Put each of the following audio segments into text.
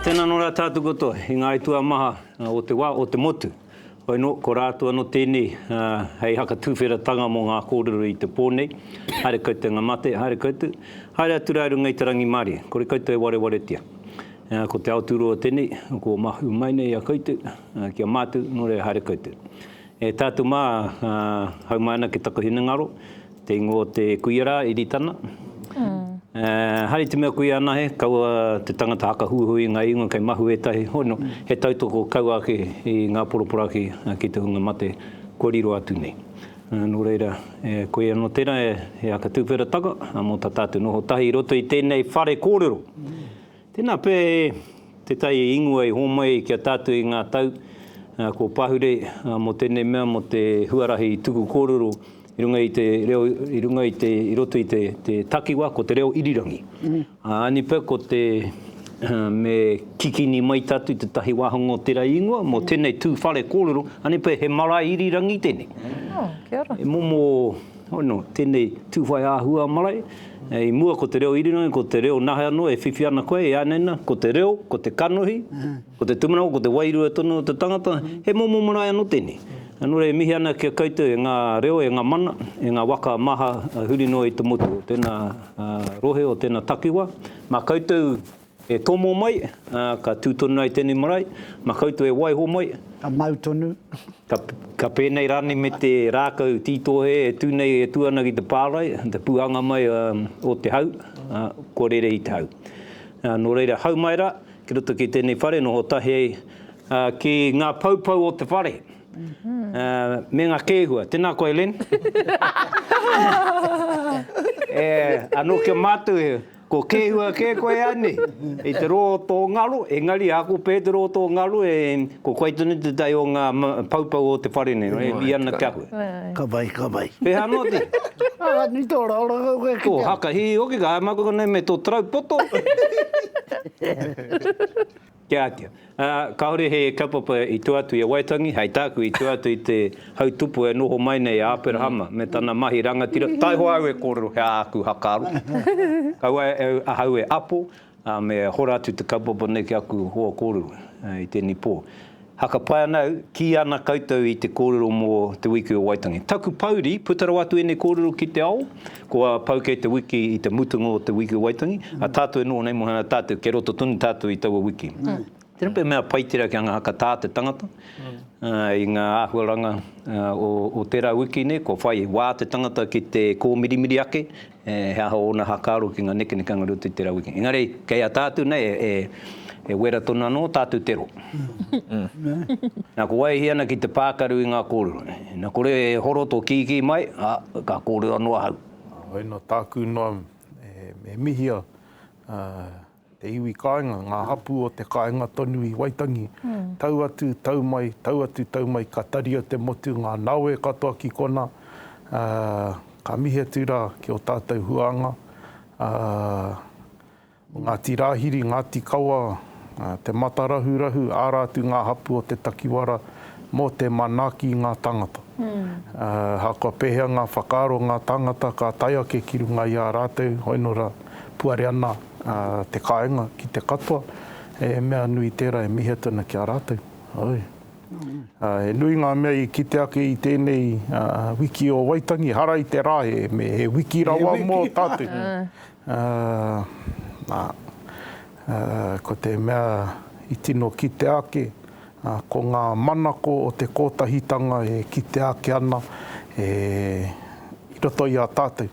Tēnā anō rā tātou katoa i ngā aituā maha o te wā, o te motu. Hoi anō, ko rātou anō tēnei hei haka tūwheratanga mō ngā kōrero i te pō nei. Haere koutou ngā mate, haere koutou, haere atu rā i runga i te rangimārie, kore koutou e warewaretia. Ko te ao tūroa tēnei, kua mahue mai nei i a koutou, ki a mātou, nō reira haere koutou. E tātou mā, haumai ana ki taku hinengaro. Te ingoa o te kuia rā, Iritana. Haere te mea kuia anahe, kaua te tangata haka huihui i ngā ingoa kei mahu ētahi. Hono, he tautoko kaua ake i ngā poroporaki ki te hunga mate kua riro atu nei. Nō reira, e koe anō tērā e Aka Tūwherataka, mō tā tātou noho tahi i roto i tēnei whare kōrero. Tēnā pea e Te Tai i ingoa i hōmai ai ki a tātou i ngā tau kua pahure mō tēnei mea, mō te huarahi tuku kōrero i runga i te reo, i runga i te, i roto i te takiwa, ko te reo irirangi. Āni pea ko te me kikini mai tātou tētahi wāhanga o tērā ingoa mō tēnei tū whare kōrero, āni pea he marae irirangi tēnei. E momo. Hono, tenei tu whai ahua marae, i mua ko te reo irirangi, ko te reo nahe ano e whiwhi ana koe, e anaina, ko te reo, ko te kanohi, ko te tumanawa, ko te wairua tonu o te tangata, he momo marae ano tenei. Ano re mihi ana ki a koutou e nga reo, e nga mana, e nga waka maha huri noa i te motu o tena rohe, o tena takiwa, ma koutou E tomo mai, ā, ka tū tonu ai tēnei marae, mā koutou e waiho mai. Ka mau tonu. Ka, ka pēnei rānei me te rākau tītohe e tū nei, e tū ana ki te pārae, te pūhanga mai, ā, o te hau, ā, kua rere i te hau. Ā, nō reira, hau mai rā, ki roto ki tēnei whare, noho tahi ai, ā, ki ngā poupou o te whare, ā, me ngā kēhua. Tēnā koe, Len. E, anō ki a mātou he. Ko Kehua kē koe anei? I te roa o tō ngaro, engari a ko Petero o tō ngaro e, ko koe tonu te tai o ngā poupou o te whare nei, e ui ana ki a koe. Ka wai, ka wai. Pēhā anō te? Aha, ni tō raoranga koe ki te ao. Tō haka hihi hoki, ka haere mai koe konei me tō tarau poto. Te Ātea. Ā, kāore he kaupapa i tua atu i a Waitangi, hei tāku, i tua atu i te hautupu e noho mai nei a Aperahama me tana mahi rangatira, taihoa au e kōrero he āku hakaaro, kaua ahau e apo, ā, me hora atu te kaupapa nei ki aku hoa kōrero i tēnei pō. Haka pai ana au, kī ana koutou i te kōrero mō Te Wiki o Waitangi. Taku pouri, puta rawa atu ēnei kōrero ki te ao, kua pau kei te wiki i te mutunga o Te Wiki o Waitangi, a tātou e noho nei mōhana tātou, kei roto tonu tātou i taua wiki. Tēnei pea mea pai tērā kia ngahaka tā te tangata i ngā āhuaranga o tērā wiki nei, kua whai wā te tangata ki te kōmirimiri ake, he aha ōna hakaaro ki ngā nekenekanga roto i te raweke. Engari, kei a tātou nei e wera tonu anō tātou te ro. Na, ko wai e hia ana ki te pākaru i ngā kōrero? Na, kore e horo tō kīkī mai, a, ka kōrero anō ahau. Heoi anō, tāku noa e mihia, Te iwi kāinga, ngā hapū o te kāinga tonu i Waitangi, tau atu, tau mai, tau atu, tau mai, ka taria te motu, ngā nawe katoa ki kona, ā, ka mihi atu rā ki ō tātou huānga, ā, Ngāti Rāhiri, Ngāti Kawa, ā, Te Matarahurahu, ā rātou ngā hapū o te takiwara mō te manaaki i ngā tāngata. Ā, ahakoa pēhea ngā whakaaro o ngā tāngata ka tae ake ki runga i a rātou, hoi nō rā, puare ana. te kāinga ki te katoa, he mea nui tērā e mihia tana ki a rātou. Oi. He nui ngā mea i kite ake i tēnei wiki o Waitangi, hara i te rā, he wiki rawa mō tātou. Nā, ko te mea i tino kitea ake, ko ngā manako o te kōtahitanga e kitea ake ana i roto i a tātou,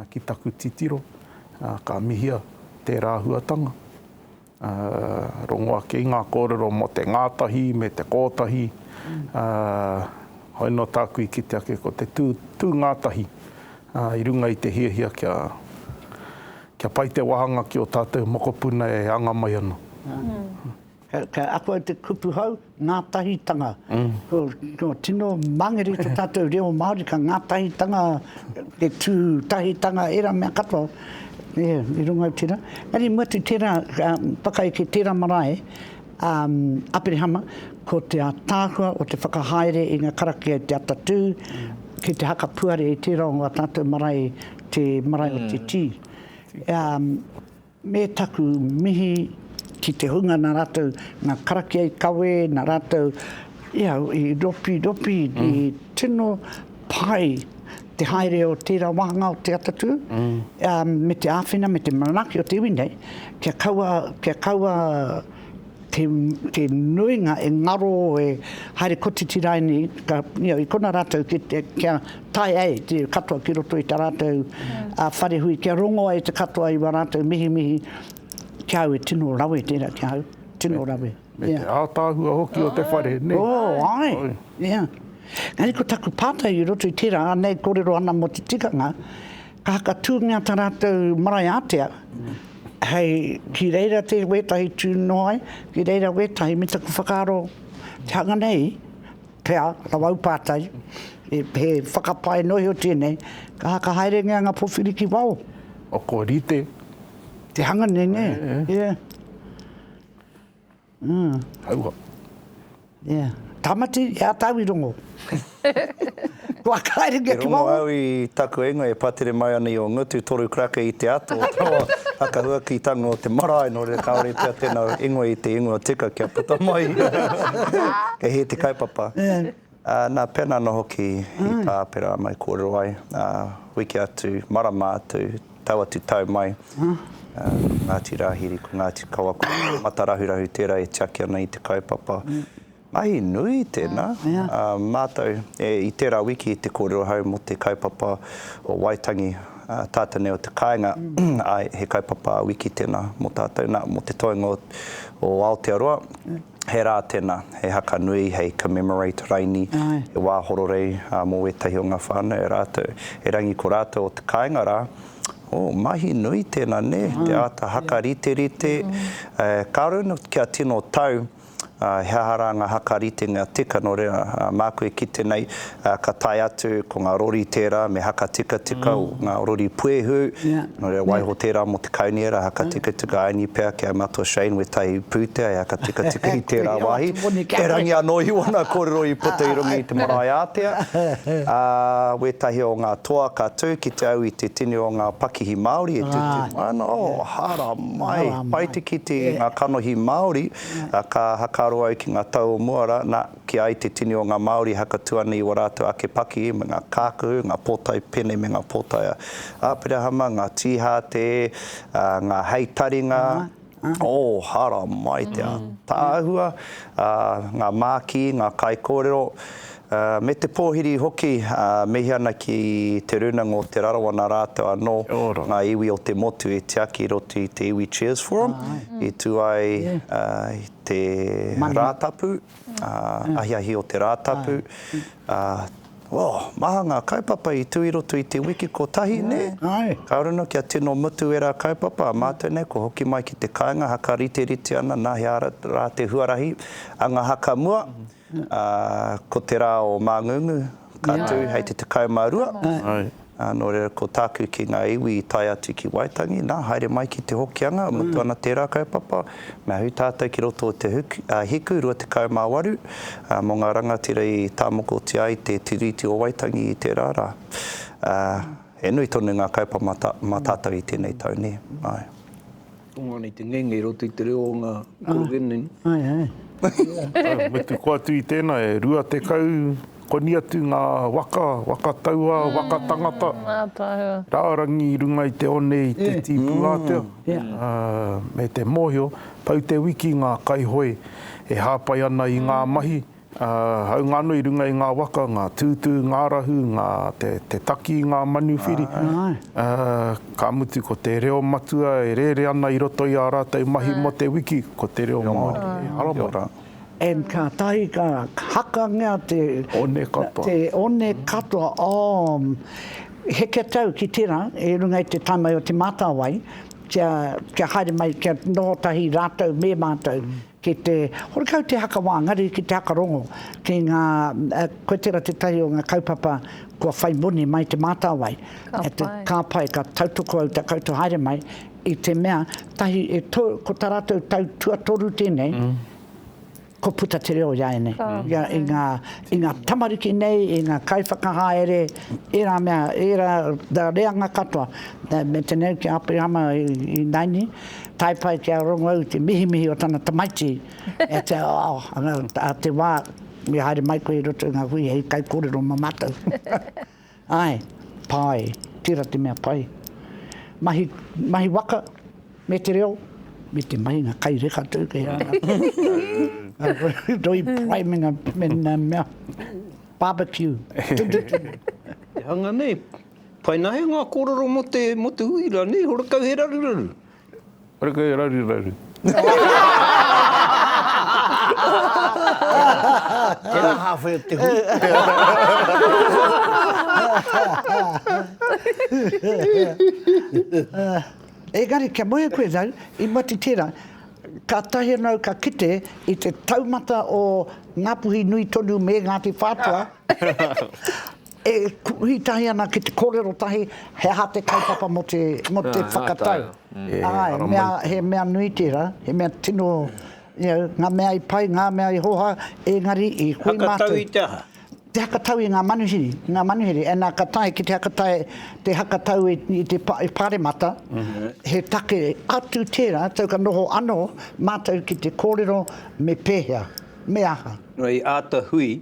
ki taku titiro. Ka mihia tērā huatanga, rongo ake i ngā kōrero mō te ngātahi me te kōtahi, hoi noa tāku i kite ake ko te tū, tū ngātahi i runga i te hiahia kia, kia pai te wāhanga ki ō tātou mokopuna e anga mai ana. Ka ako au te kupu hou, ngātahitanga. Ko tino mangere i to tatou reo Māori, ka ngātahitanga, te tū tahitanga, ērā mea katoa i runga i tērā. Engari mua atu tērā, whakaeke tērā marae a Aperehama, ko te ātaahua o te whakahaere i ngā karakia i te atatū, ki te hakapuare i tērā o ngā tatou marae, te marae o te tī. Me taku mihi ki te hunga na ratou, na karakia i kawe, na ratou ia i ropi ropi i tino pai te haere o tera wahanga o te atatū, me te āwhina me te manaki o te iwi nei kia kaua kia kaua te te nuinga e ngaro e haere kotiti rae nei ka you know i kona ratou ki te kia tae ai te katoa ki roto i ta ratou a whare hui kia rongo ai te katoa i wa ratou mihimihi ki au e tino rawe tera ki au tino rawe me te atahua hoki o te whare ne oh ai yeah Engari ko taku patai i roto i tera anei korero ana mo te tikanga Ka whakatūngia tā rātou marae ātea hei, ki reira te wētahi tū noa ai, ki reira wētahi, me taku whakaaro te hanga nei, pea, rawa au pātai, he whakapae noa iho tēnei, ka haka haerengia ngā powhiri ki waho. Ō, kua rite. Te hanga nei, nē? Yeah. Mm. Hauha. Yeah. Tamati, e a tau i rongo. Kua kaere kia ki waho. E rongo au i taku ingoa e patere mai ana i o ngutu toru krake i te ato. Haka huaki tango o te marae no re kaore pea tena ingoa i te ingoa tika kia puta mai. Kei he te kaupapa. Yeah. Nā Peana anō hoki i tā Pera mai kōrero ai, ā, wiki atu, marama atu, tau atu tau mai, ko Ngāti Rāhiri, ko Ngāti Kawa, ko Ngāti Matarahurahu tērā e tiaki ana i te kaupapa. Mahi nui tēnā, ā, mātou, i tērā wiki te kōrero ahau mō te kaupapa o Waitangi, Tātene o te kāinga, āe, he kaupapa wiki tēnā mō tātou. Nā, mō te toenga o Aotearoa, he rā tēnā, he haka nui hei commemorate raini, he wā hororei mō wētahi o ngā whānau e rātou. Erangi ko rātou o te kāinga rā, oh, mahi nui tēnā nē, te āta haka riterite, ka runa kia tino tau, He aha rā ngā haka ritenga tika nō reira? Māku e kite nei, ka tae atu, ko ngā rori tērā me haka tikatika, ngā rori puehu, nō reira, waiho tērā mō te kaunihera, haka tikatika, aini pea ki a mātou Shane, wētahi pūtea e haka tikatika i tērā wāhi. Erangi anō i ōna kōrero i puta i runga i te marae ātea. Ā, wētahi o ngā toa ka tū ki te au i te tini o ngā pakihi Māori e tū, ā, nā, ō, aha rā! Mai, pai te kite i ngā kanohi Māori, ka hakaro au ki ngā tau o mua rā, nā, kī ai te tini o ngā Māori e hakatū ana i ō rātou ake paki me ngā kākahu, ngā pōtae pene me ngā pōtae a Aperahama, ngā tīhātē, ngā hei taringa, ō, haramai te ātaahua, ngā mākī, ngā kaikōrero, Me te pōhiri hoki, mihi ana ki Te Rūnanga o Te Rarawa nā rātou anō ngā iwi o te motu i tiaki i roto i te iwi Cheers Forum i tū ai te Rātapu, ahiahi o te Rātapu. Oh, maha ngā kaupapa i tū i roto i te wiki kotahi, nē? Kāore anō kia tino mutu ērā kaupapa, a mātou nei kua hoki mai ki te kāinga, hakariterite ana nā hea rā te huarahi a ngā haka mua. Ā, ko te rā o Māngungu, ka tū hei te 12, ā, nō reira ko tāku ki ngā iwi i tae atu ki Waitangi, nā, haere mai ki Te Hokianga, mutu ana tērā kaupapa, me ahu tātou ki roto o te Hiku 28, ā, mō ngā rangatira i tāmokotia ai te Tiriti o Waitangi i tērā rā. Ā, he nui tonu ngā kaupapa mā tātou i tēnei tau, nē? Āe. Tonga nei te ngenge i roto i te reo o nga Korogeneni. Ah, ai, ai. Ora, mutu ko atu i tena e rua tekau koni atu nga waka, waka taua, waka tangata, rarangi i runga i te one i te tipu atea, me te mohio, pau te wiki nga kaihoe e hapai ana i nga mahi, Ā, hāunga anō i runga i ngā waka, ngā tūtū, ngā rahu, ngā, te, te taki i ngā manuwhiri, ā, ka mutu ko te reo matua e rere ana i roto i ā rātou mahi mō te wiki, ko te reo Māori. He ara mai rā. And kātahi ka hakangea te. One katoa. Te one katoa, oh, heke tau ki tērā, i runga i te tamae o Te Mātāwai, kia, kia haere mai, kia noho tahi rātou me mātou. Ki te horekau te haka wāngari ki te haka rongo, ki ngā, koe tērā tētahi o ngā kaupapa kua whai moni mai te mātāwai. Ka pai. Ka pai, ka tautoko au tā koutou haere mai i te mea, tahi, e to, ko tā rātou tau tuatoru tēnei, kua puta te reo i a ēnei. Ka pai. I ngā, i ngā tamariki nei, i ngā kaiwhakahaere, ērā mea, ērā reanga katoa. Me tenei ki a Aperihama i, i Naini, tae pai ki a Rongou te mihimihi o tana tamaiti, e te ao, anga, a te wā i haere mai koe i roto i ngā hui hei kaikōrero mō mātou. Āe, pai, tērā te mea pai. Mahi, mahi waka, me te reo, me te mahinga kai reka tō kei a ngā roi pai me ngā, me ngā mea, barbecue. Te hanga nei, Pai nahe nga korero mo te mo te hui ra nei horekau he raruraru. Horekau he raruraru. Tera hawhe o te hui. Engari kia moe koe rau i mati tera katahi anau ka kite i te taumata o Ngapuhi nui tonu me Ngati Whatua. E kohi tahi ana ki te kōrero tahi, he aha te kaupapa mō te whakatau. He mea nui tērā, he mea tino, ngā mea i pai, ngā mea i hoha, engari i koe mātou. Hakatau i te aha? Te hakatau i ngā manuhiri, ngā manuhiri. Nā, ka tae ki te hakatau, te hakatau i te Pāremata, he take atu tērā, tau ka noho anō mātou ki te kōrero me pēhea, me aha. I āta hui,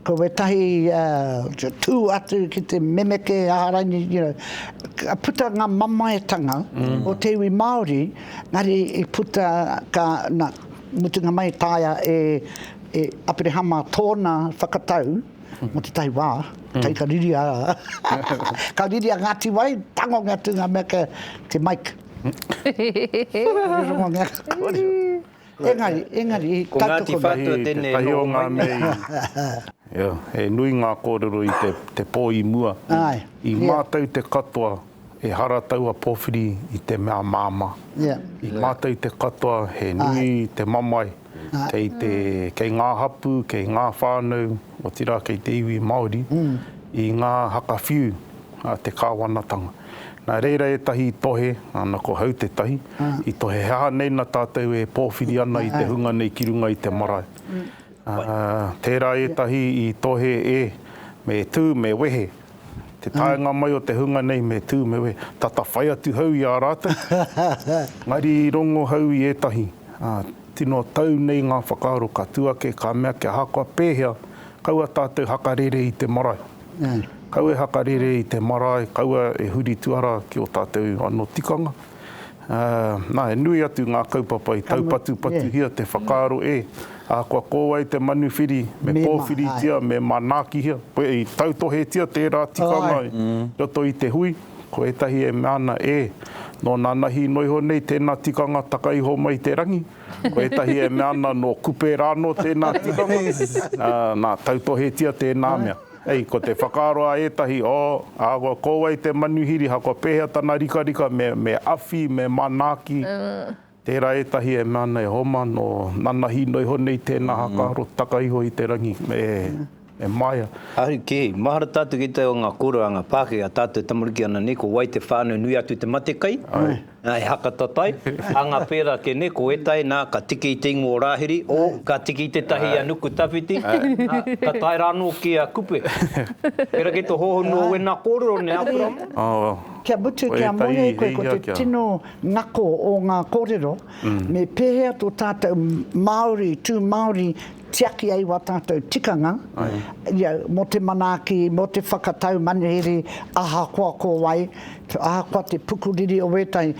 Ko wētahi tū atu ki te memeke aharaini, you know, ka puta ngā mamaetanga mm. o te iwi Māori, ngari i puta ka, na, mutunga mai taia e, e Aperehama tōna whakatau, mm. mo te tahi wā, mm. kai ka riria, ka riria ngā tiwai, tango ngā tūnga mea ke, ke Mike. Rongo ngā kōrero. Engari, engari, ka toko. Ko Ngāti Whātua tēnei nō Waimea. Ia, he nui ngā kōrero i te, te pō i mua. Āe. I mātau te katoa, ehara taua pōwhiri i te mea māmā. Ia. I mātau te katoa, he nui te mamae. Āe. Kei te, kei ngā hapū, kei ngā whānau, otirā kei te iwi Māori, i ngā haka whiu a te Kāwanatanga. Nā reira ētahi tohe, āna ko Hau te Tahi, I tohe he aha nei na tatou e powhiri ana i te hunga nei ki runga i te marae. Tera etahi i tohe e, me tu, me wehe. Te taenga mai o te hunga nei me tu, me wehe, tata whai atu hau i a ratou. Engari i rongo hau i etahi, tino tau nei nga whakaaro ka tu ake ka mea kia ahakoa pehea, kaua tatou hakarere i te marae. Kau e hakarere i te marae, kaua e huri tuara ki o tatou ano tikanga. Nā, he nui atu ngā kaupapa i taupatupatuhia te whakaaro e, ahakoa ko wai te manuwhiri, me kōwhiritia, me manaakihia, i tautohetia tērā tikanga i roto i te hui, ko ētahi e mea ana, ē, nō nanahi noa iho nei tēnā tikanga taka iho mai i te rangi, ko ētahi e mea ana, nō Kupe rānō tēnā tikanga, nā, tautohetia tēnā mea. Hei, ko te whakaaro a ētahi, oh, ahakoa ko wai te manuhiri, ahakoa pēhea tana rikarika, me, me awhi, me manaaki. Tērā ētahi e mea ana, e homa, nō nana hino iho nei tēnā haka aro, taka iho i te rangi, e, e maea. Ahu kē, mahara tātou ki te o ngā kōreranga Pākehā, tātou tamariki ana nei, ko wai te whānau nui atu te matekai? He haka tatai, anga pera ke ne ko etai na ka tiki i te ingoa o Rahiri, o, ka tiki i tetahi i a Nukutawhiti, na, ka tae ra ano ki a Kupe. Pera ki to hohonu o wena korero ne a Kurama. Kia mutu kia moe e koe ko te tino ngako o nga korero, me pehea to tatou Maori, tu Maori tiaki ai wa tatou tikanga, ia, mo te manaaki, mo te whakatau manuhiri, ahakoa ko wai, Ahakoa te pukuriri o wētahi,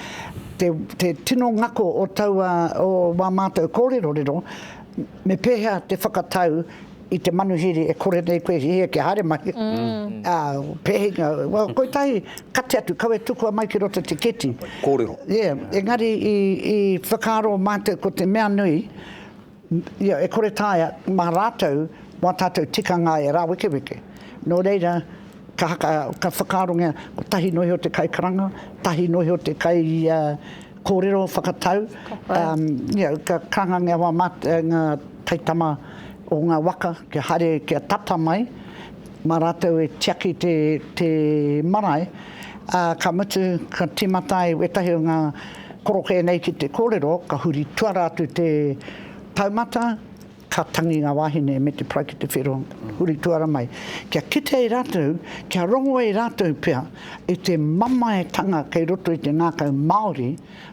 te tino ngako o taua, o wā mātou kōrerorero, me pēhea te whakatau i te manuhiri e kore nei koe hihia kia haere mai, ā, pēhea, kotahi, kati atu, kawe tukua mai ki roto te keti. Kōrero. Yeah, engari i whakaaro mātou ko te mea nui, Ia, e kore taea, mā rātou, mā tātou tikanga e rāwekeweke. Nō reira, ka haka, ka whakaarongia, kotahi nō iho te kaikaranga, tahi nō iho te kai kōrero whakatau, ia, ka kāngangia wā mā ngā taitama o ngā waka kia haere, kia tata mai. Mā rātou e tiaki te, te marae, ā, ka mutu, ka tīmata ai wētahi o ngā korokē nei ki te kōrero, ka huri tuara atu te taumata, ka tangi ngā wāhine me te pae ki te whero, huri tuara mai, kia kite ai rātou, kia rongo ai rātou pea i te mamaetanga kei roto i te ngākau Māori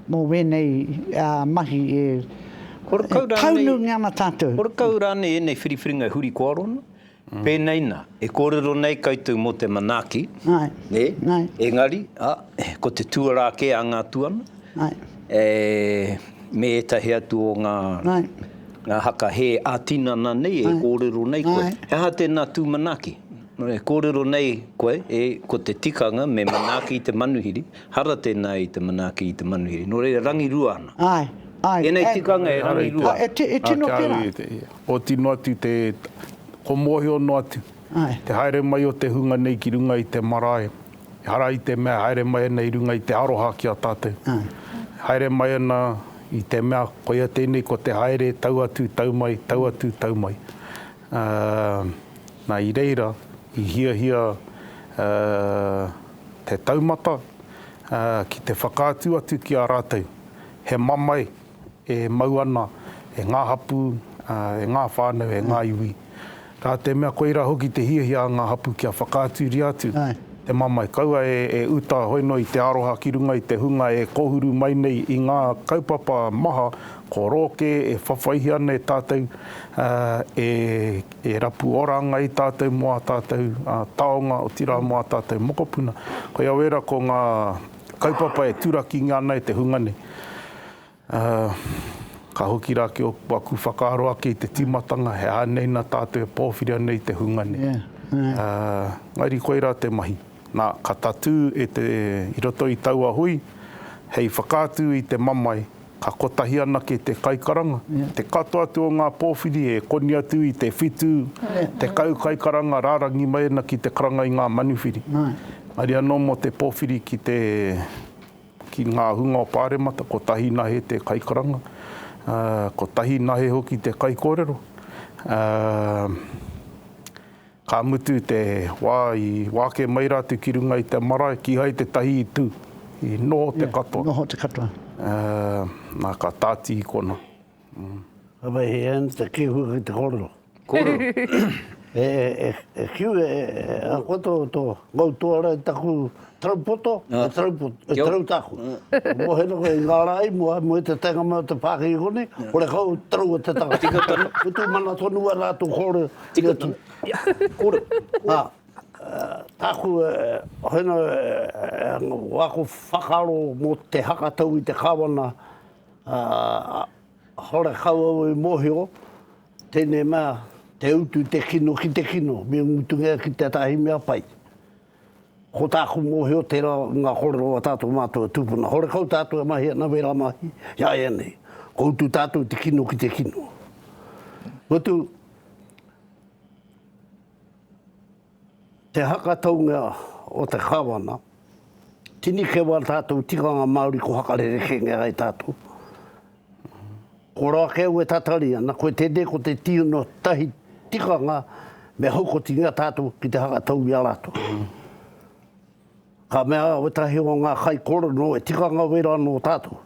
mō wēnei, ā, mahi e, e taunungia ana tātou. Horekau rānei ēnei whiriwhiringa e huri kōaro ana? Pēnei nā, e kōrero nei koutou mō te manaaki, nē? Engari, ā, ko te tuarā kē a ngā tuana, ē, me ētahi atu o ngā, ngā haka hē ā-tinana nei e kōrero nei koe. He aha tēnā tū manaaki? E kōrero nei koe, ē, ko te tikanga me manaaki i te manuhiri, hara tēnā i te manaaki i te manuhiri. Nō reira, rangirua ana. Tēnei tikanga e rangirua ana. E tino pērā. Ko tino atu te, ko mōhio noa atu, te haere mai o te hunga nei ki runga i te marae, ehara i te mea e haere mai ana i runga i te aroha ki a tātou. E haere mai ana i te mea, koia tēnei ko te haere tau atu, tau mai, tau atu, tau mai. Na, i reira, i hiahia te taumata ki te whakaatu atu ki a rātou, he mamae, e mau ana e ngā hapū, e ngā whānau, e ngā iwi. Ka te mea koirā hoki te hiahia a ngā hapū kia whakaaturia atu te mamae. Kaua e uta hoi noa i te aroha ki runga i te hunga e kōhuru mai nei i ngā kaupapa maha ko rō kē e whawhaihi ana e tātou, e rapu ora ana i tātou mō ā tātou taonga, otirā mō ā tātou mokopuna. Koia wēra ko ngā. Kaupapa e turakingia ana e te hunga nei. Ka hoki rā ki aku whakaaro ake i te tīmatanga, he aha nei nā tātou e pōwhiria nei te hunga nei. Engari koirā te mahi. Nā, ka tatū i roto i taua hui, hei whakaatu i te mamae, Ka kotahi anake te kaikaranga, te katoa atu o ngā pōwhiri e koni atu i te whitu, tekau kaikaranga rārangi mai ana ki te karanga i ngā manuwhiri. Mauri anō mō te pōwhiri ki te, ki ngā hunga o Pāremata, kotahi nahe te kaikaranga, kotahi nahe hoki te kaikōrero, ā, Ka mutu te wā i wāke mai rātou ki runga i te marae, kīhai tētahi i tū, i noho te katoa. Noho te katoa. Nā, ka tāti i konā. Ka whai hē ana te kīhua ki te kōrero. Kōrero. E kiu e, ako tō, tō, mau tō rā i taku Taraupoto, e taraupoto, e tarautako. Mo he noho i ngā rā i mua, mo e te taenga mai o te pākeke konei, hore kau, taraua te tangata. Tika tonu. Utu mana tonu wai rātou kōrero. Tika tonu. Kōrero. Ā, tāku e, hoena e, o aku whakaaro mō te hakatau i te Kāwana, ā, hore kau au i mōhio, tēnei mea, te utu i te kino ki te kino, me mutungia ki tētahi mea pai. Ko tāku mōhio, tērā ngā kōrero a tātou mātou e tūpuna. Horekau tātou e mahi ana wērā mahi, ināianei, kua utu tātou i te kino ki te kino. Mutu, te haka taunga o te Kāwana, tini keu ā tātou tikanga Māori ko haka rerekēngia ai tātou. Ko Rākau e tatari ana, koe tēnei ko te tīono tahi tikanga me haukotingia tātou ki te hanga tau i a rātou. Ka mea wētahi o ngā kaikorono e tikanga wera ana o tātou.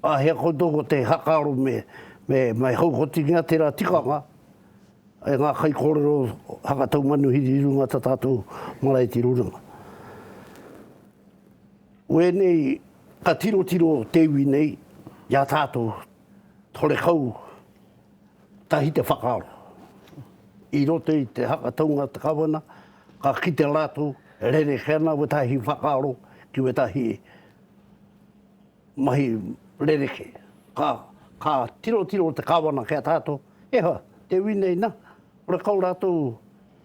Āhea koutou ko te hakaaro me, me, me haukotingia tērā tikanga e ngā kaikorono hanga tau manuhiri i runga tā tātou marae tiro runga. Wēnei ka tirotiro te iwi nei i a tātou horekau tahi te whakaaro. I roto i te haka taunga o te Kawana, ka kite rātou e rerekē ana wētahi whakaaro ki wētahi mahi rerekē. Ka, ka tirotiro te Kawana ki a tātou, e hoa, te iwi nei nā, horekau rātou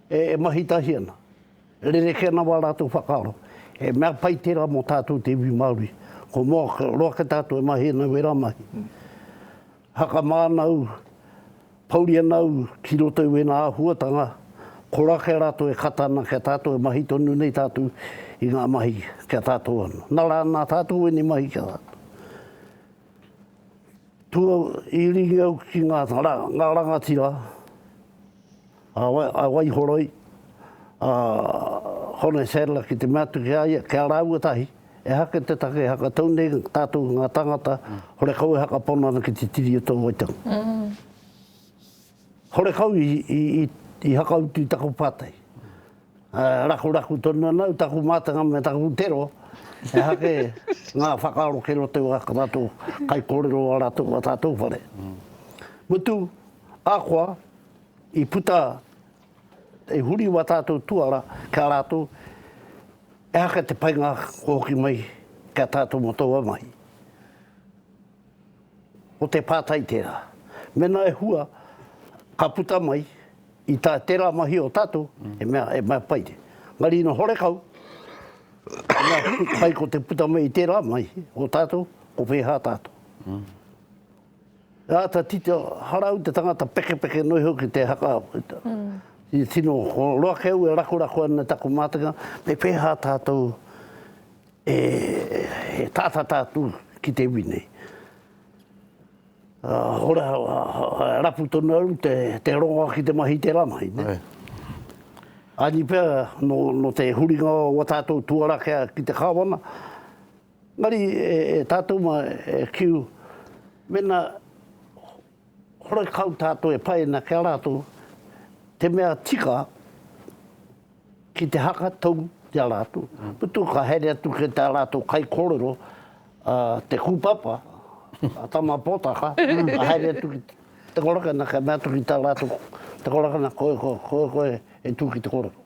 e mahi tahi ana. Rerekē ana wā rātou whakaaro. He mea pai tērā mō tātou te iwi Māori. Ko moa roa kē tātou e mahia nei wērā mahi. Haka māna au, pouri ana au ki roto i wēnā āhuatanga, koa kē rātou e kata ana ki a tātou e mahi tonu nei tātou i ngā mahi ki a tātou anō. Nā rā, nā tātou ēnei mahi ki a tātou. Tua iringa au ki ngā rangatira a Waihoroi, a Hone Sadler ki te mea atu ki a ia, ki a rāua tahi, ehara kei te take, ehara ka tau nei tātou ki ngā tāngata, horekau ehara ka pono ana ki te Tiriti o Te Waitanga. Horekau i hakautu i taku pātai, rakuraku tonu ana au, taku mātanga me taku tero, ehara kē ngā whakaaro kei roto i a rātou kaikōrero o ā rātou whare. Mutu, ahakoa, I puta, i huri wā tātou tuara ki a rātou, ehaka te painga kua hoki mai ki a tātou mō taua mahi. Ko te pātai tērā. Mēnā e hua, ka puta mai, i tā tērā mahi o tātou, he mea, he mea pai te. Engari ina horekau, he mea pai ko te puta mai i tērā mahi o tātou, ko whēhā tātou. Āta tito harau te tangata pekepeke nui hoki te haka. I tino roa keu e rakorako ana taku mātenga, me pēhā tātou e tātata atu ki te iwi nei. Hora, rapu tonu au te rongoa ki te mahi i te rāngai. Aini pea, nō te huringa o ā tātou tuara ki te Kāwana, Engari e tātou mā e kiu, mena horekau tātou e paina ki a rātou, te mea tika ki te haka tou ki a rātou, mutu ka haere atu ki tā rātou kaikōrero a Te Kūpapa, a Tama Potaka, ka haere atu ki te korakana kia mea atu ki tā rātou te korakana koe, koe, koe e tū ki te kōrero.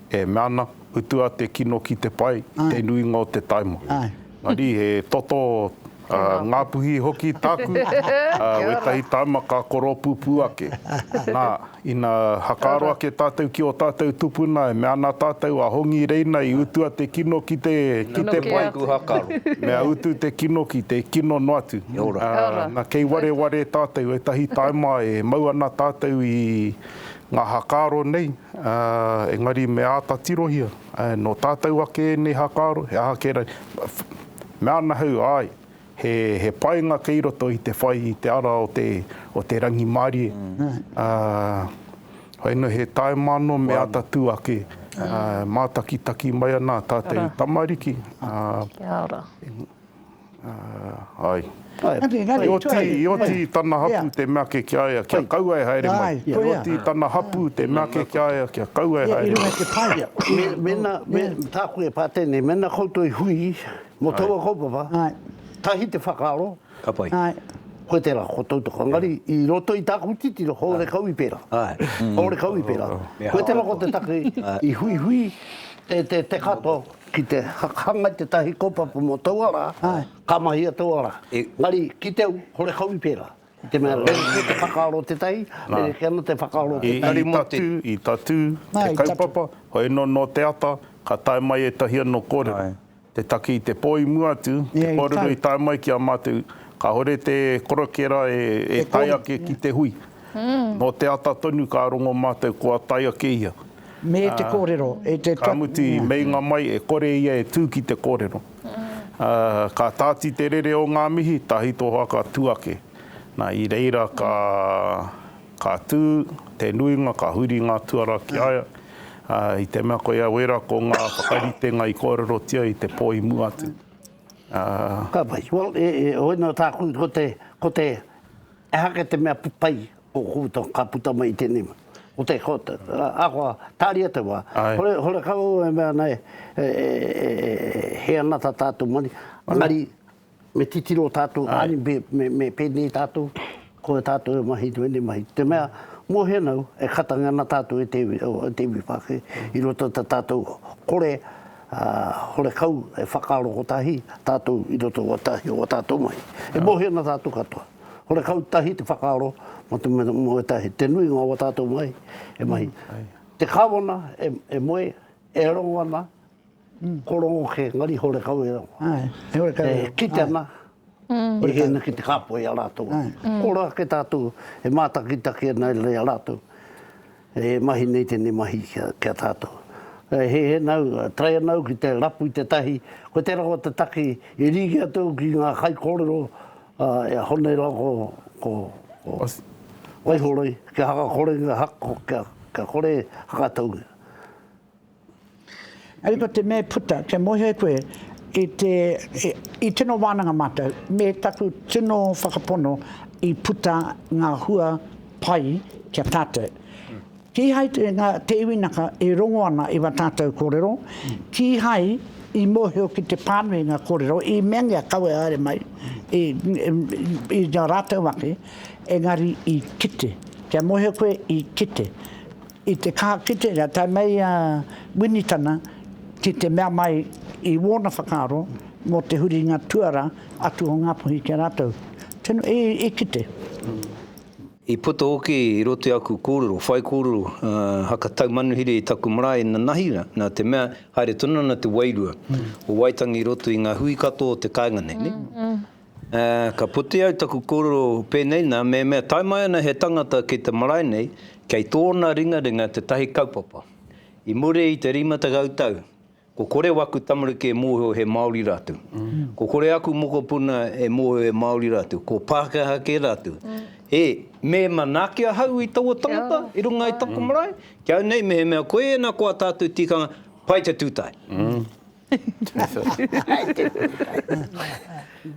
E mea ana, utua te kino ki te pai, te nuinga o te taima. Engari, he toto Ngāpuhi hoki tāku, wētahi taima ka koropūpū ake. Nā, ina hakaaro ake tātou ki ō tātou tupuna, e mea ana tātou, a Hongi Reina i utua te kino ki te pai, mea utu te kino ki te kino noa atu. Nā, kei wareware tātou, ētahi taima e mau ana tātou i Ngā hākāro nei, ā, engari me āta tirohia, ā, nō tātou ake ēnei hākāro, he aha kē rāi, mea ana ahau, āe, he, he painga kei roto i te whai i te ara o te, o te rangimārie, ā, whai nō he tāima anō me āta tū ake, ā, mātakitaki mai ana ā tātou tamariki, ā. Kia ora. Āe. Engari, i oti, i oti i tana hapū te mea ake ki a ia kia kaua e haere mai. Āe, koia. I oti i tana hapū te mea ake ki a ia kia kaua e haere mai. Ia i runga i te paia. Me, mena, me, tāku e pā tēnei, mena koutou i hui mō taua kaupapa, tahi te whakaaro, koe tērā, ko tautoko. Engari, i roto i tāku titiro, hōre kau i pērā. Hōre kau i pērā. Koe tērā ko te take i huihui te, te, te katoa. Ki te hanga i tētahi kaupapa mō taua rā, ka mahia taua rā. Engari, ki te au, hore kau i pērā. I te mea, rerekē te whakaaro o tētahi, rerekē anō te whakaaro o tētahi. I tatū te kaupapa, hoi anō nō te ata, ka tae mai ētahi anō kōrero. Te taki i te pō i mua atu, te kōrero i tae mai ki a mātou, kāore te korokera e tae ake ki te hui. Nō te ata tonu ka rongo mātou kua tae ake ia. Me te kōrero. Ka mutu i meinga mai e kore ia e tū ki te kōrero. Ka tāti te rere o ngā mihi, tahito hoa ka tū ake. Na, i reira ka, ka tū te nuinga, ka huri ngā tuara ki a ia, i te mea koia wera ko ngā whakaritenga i kōrerotia i te pō i mua atu. Ka pai. Well, e, e, oina tāku, ko te, ko te, ehake te mea pai Ko ta, ka puta mai i tenei ma. Ko te, ko te, ahakoa, taria te wa. Ai. Hore, hore ka u e mea nei, e, e, e, e, he anata tatou moni, engari, me titiro tatou ani, me, me, me penei tatou, ko e tatou e mahi nei, nei mahi. Te mea, mo henau, e katangia ana tatou e te, e te iwi Pakhe, i roto i ta tatou kore, a, hore kau e whakaaro kotahi, tatou i roto i wa tahi o wa tatou mahi. E mohi ana tatou katoa. Horekau tahi te whakaaro mō te mea mō ētahi te nuinga o ā tātou mahi e mahi. Te Kāwana e moe, e rongo ana, ko rongo kē, engari horekau e rongo. E kite ana, e hē ana ki te kāpoi i a rātou. Ko rongo ake tātou e mātakitaki ana i a rātou e mahi nei tēnei mahi ki a tātou. E hē ana au, e taea ana au ki te rapu i te tahi, ko te rawa te take i rīki atu au ki ngā kaikōrero, A e aho nei la ko, ko, ko Waihoroi, kia haka kore nga hako, kia, kia kore e hakatau. Ari ko te mea puta, kia mohe koe i te, i, i tino wananga matou, me taku tino whakapono i puta nga hua pai kia tatou. Kīhai te ngā te iwi naka e rongo ana i wa tātou korero, kīhai i mōhio ki te pānui ngā korero i meangia kawe haere mai i i a rātou ake, engari i kite. Kia mōhio koe i kite. I te kaha kite rea tae mai a Winitana ki te mea mai i wōna whakaaro mō te huringa tuara atu o Ngāpuhi ki a rātou. Tino, i kite. I puta hoki i roto i aku kōrero, whaikōrero, haka tau manuhiri i taku marae i Nanahi, nā te mea, haere tonu ana te wairua o Waitangi i roto i ngā hui katoa o te kāinga nei, nē? Ka puta i au taku kōrero pēnei, nā, mehemea tae mai ana he tangata ki te marae nei, kei tōna ringaringa tētahi kaupapa. I muri i te rima tekau tau, Ko kore waku tamariki e mōhio he Māori rātou. Ko kore aku mokopuna e mōhio he Māori rātou. Ko Pākehā kē rātou. He, me manaaki ahau i taua tangata i runga i taku marae, ki au nei mehemea koe ēnā ko a tātou tikanga, pai te tūtae.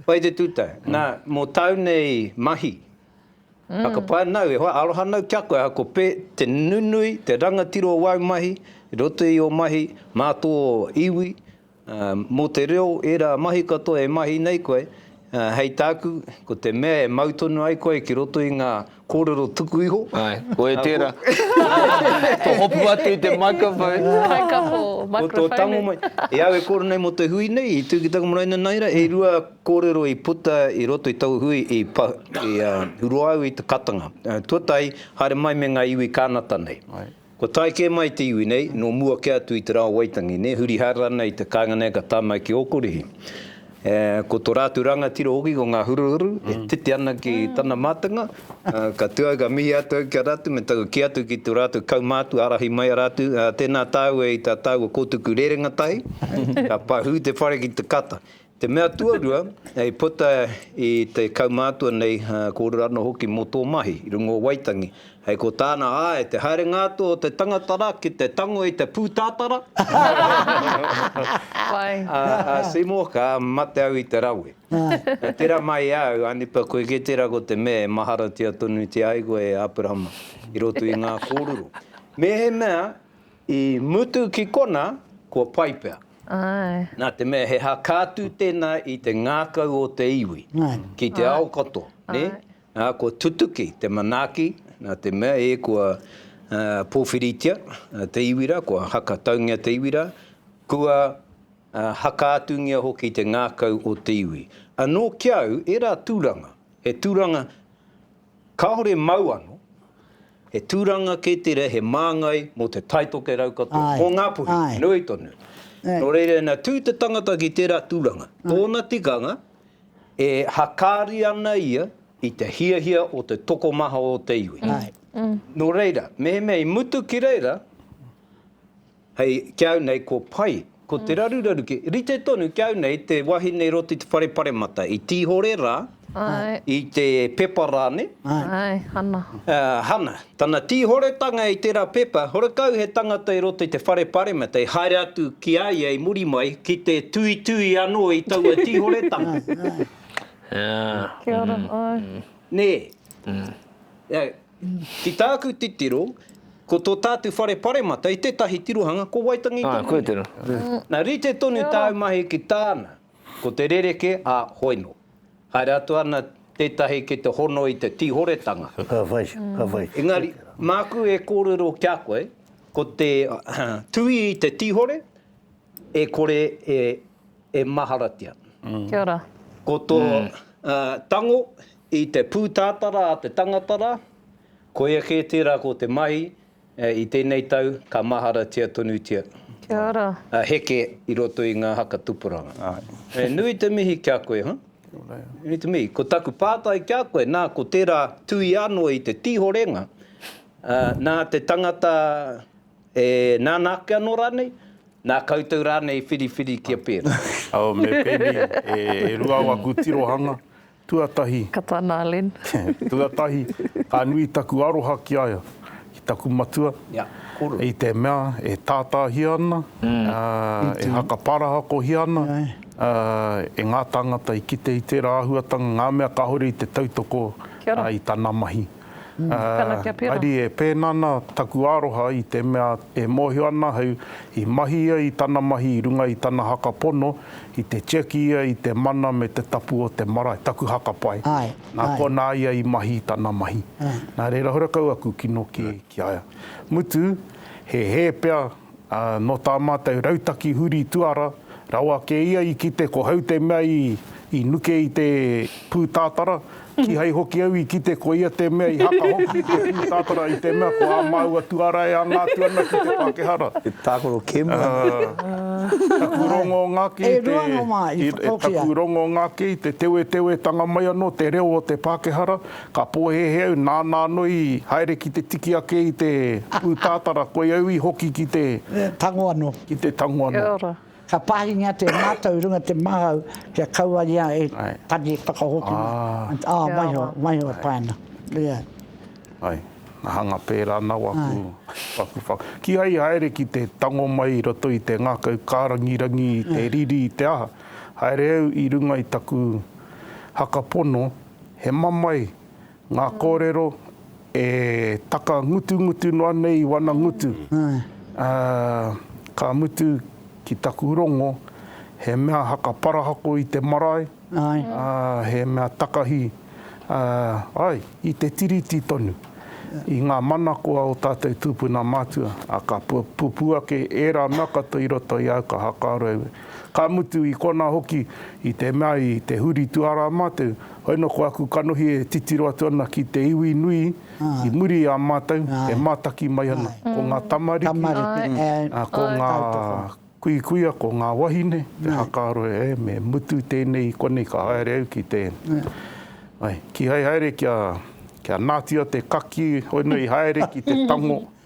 Pai te tūtae. Nā, mō tāu nei mahi, Whakawhanau, e hoa, aroha nau ki a koe, ahako pē, te nunui, te rangatira o wāu mahi, i roto i ō mahi mā tō iwi, mō te reo, ērā mahi katoa e mahi nei koe, hei tāku, ko te mea e mau tonu ai koe ki roto i ngā kōrero tuku iho. Āe, koe tērā. Kua hopu atu i te microphone. Microphone. Ko tō tango mai. E au e kōrero nei mō te hui nei, i tū ki taku marae nanaira, e rua Kōrero i puta i roto i taua hui i hurua au i te katanga. Tuatahi, haere mai me ngā iwi Kānata nei. Kua tae kē mai te iwi nei, nō mua kē atu i te rā o Waitangi nei, huri haere ana i te kāinga nei ka tae mai ki Ōkurihi. Ko tō rātou rangatira hoki ko Ngā Huruhuru, e titi ana ki tana mātenga. Ka tū au ka mihi atu au ki a rātou me taku kī atu ki tō rātou kaumātua ārahi mai a rātou, Tēnā tāua i tā tāua kōtuku rerenga tahi, ka pahū te whare ki te kata. Te mea tuarua, i puta i te kaumātua nei, kōrero anō hoki mō tō mahi i runga o Waitangi, hei ko tāna, āe, te haerenga atu o te tangata rā ki te tango i te pūtātara, a Seymour, ka mate au i te rawe. Tērā mai i a au, anipa, koe kē tērā ko te mea e maharatia tonutia ai koe e Aperahama i roto i ngā kōrero. Mēhemea. I mutu ki kona, kua pai pea. Ae. Na te mea he hakatu tena i te ngakau o te iwi ki te ao koto, ne? Na kua tutuki te manaki, na te mea e kua powhiritia te iwi ra, kua haka taungia te iwi ra, kua hakaatungia hoki te ngakau o te iwi. Ano ki au era turanga, he turanga Kāore mau ano, he tūranga kē tērā he māngai mō te taitoke rau katoa, mō Ngāpuhi, nui tonu. Nō reira ina tū te tangata ki tērā tūranga, tōna tikanga e hakaari ana ia i te hiahia o te tokomaha o te iwi. Nō reira, mehemea i mutu ki reira, Hei, ki au nei ko pai, ko te raruraru ki, rite tonu ki au nei te wahine i roto i te whare paremata, i Tīhore rā, i te pepa rāne, Hana, tana tīhoretanga i tērā pepa, horekau he tangata i roto i te whare paremata i haere atu ki a ia i muri mai ki te tuitui anō i taua tīhoretanga. Nē? Ki tāku titiro, ko tō tātu whare paremata i tētahi tirohanga ko Waitangi tonu. Āe, koia tērā. Nā, rite tonu tāu mahi ki tāna, ko te rerekē, ā, hoino. Haere atu ana tētahi ki te hono i te tīhoretanga. Ka whai, ka whai. Engari, māku e kōrero ki a koe, ko te tuhi i te tīhore, e kore e maharatia. Kia ora. Ko tō tango I te pūtātara a te tangata rā, koia kē tērā ko te mahi i tēnei tau ka maharatia tonutia. Kia ora. Heke i roto i ngā haka tupuranga. He nui te mihi ki a koe, huh? Kia ora e. He nui te mihi. Ko taku pātai ki a koe, nā, ko tērā tui anō i te tīhorenga, nā te tangata e nānā ake anō rānei, nā koutou rānei i whiriwhiri kia pērā? Me pēnei, e rua au aku tirohanga, Tuatahi. Ka tana a Len. Tuatahi, ka nui taku aroha ki a ia, ki taku matua. Ia, koru. I te mea, e tātāhia ana, e hakaparahakohia ana e ngā tāngata i kite i tērā āhuatanga ngā mea kāore i te tautoko i tana mahi. Haere e pēnā ana taku aroha i te mea e mōhio ana ahau i mahi ia i tana mahi i runga i tana haka pono i te tiaki ia i te mana me te tapu o te marae, taku haka pae, nā konā ia i mahi i tana mahi. Nā reira hora kau aku kino ki a ia. Mutu, he hē pea Ā, nō tā mātou rautaki huri tuara, rawa kē ia i kite ko hau te mea i, i nuke i te pūtātara, kīhai hoki au i kite ko ia te mea i haka hoki i te pūtātara i te mea ko ā māua tuara e anga atu ana ki te Pākehā rā. He tākaro kēmu anō. Taku rongo ngā kē i te. E rua ngā wā i whakahokia. Taku rongo ngā kē i te tewetewetanga mai anō te reo o te Pākehā rā, Ka pōhēhē au nāna anō i haere ki te tiki ake i te pūtātara koi au i hoki ki te. Tango anō. Ki te tango anō. Kia ora. Ka pāhingia te mātau i runga te māhau kia kaua ia e tari whakahoki mai. Ā. Ā, waiho, waiho e pae ana. Ia. Ai. Nā hanga pērā ana au aku whakawhaka. Kīhai i haere ki te tango mai i roto i te ngākau kārangirangi i te riri i te aha, haere au i runga i taku haka pono. He mamae ngā kōrero e taka ngutungutu noa nei i wana ngutu. Ka mutu ki taku rongo, he mea haka parahako i te marae, he mea takahi ai i te tiriti tonu, i ngā manako a o tātou tūpuna mātua, ā, ka pupū ake ērā mea katoa i roto i au, ka haka aro au Ka mutu i konā hoki, i te mea i te huri tuarā mātou, hoi nō ko aku kanohi e titiro atu ana ki te iwi nui i muri i a mātou e mātaki mai ana. Ko ngā tamariki, ko ngā kuikuia, ko ngā wahine, te hakaaro e, me mutu tēnei i konei ka haere au ki te, ai, kīhai haere kia, kia nātia te kakī, hoi nō i haere ki te tango.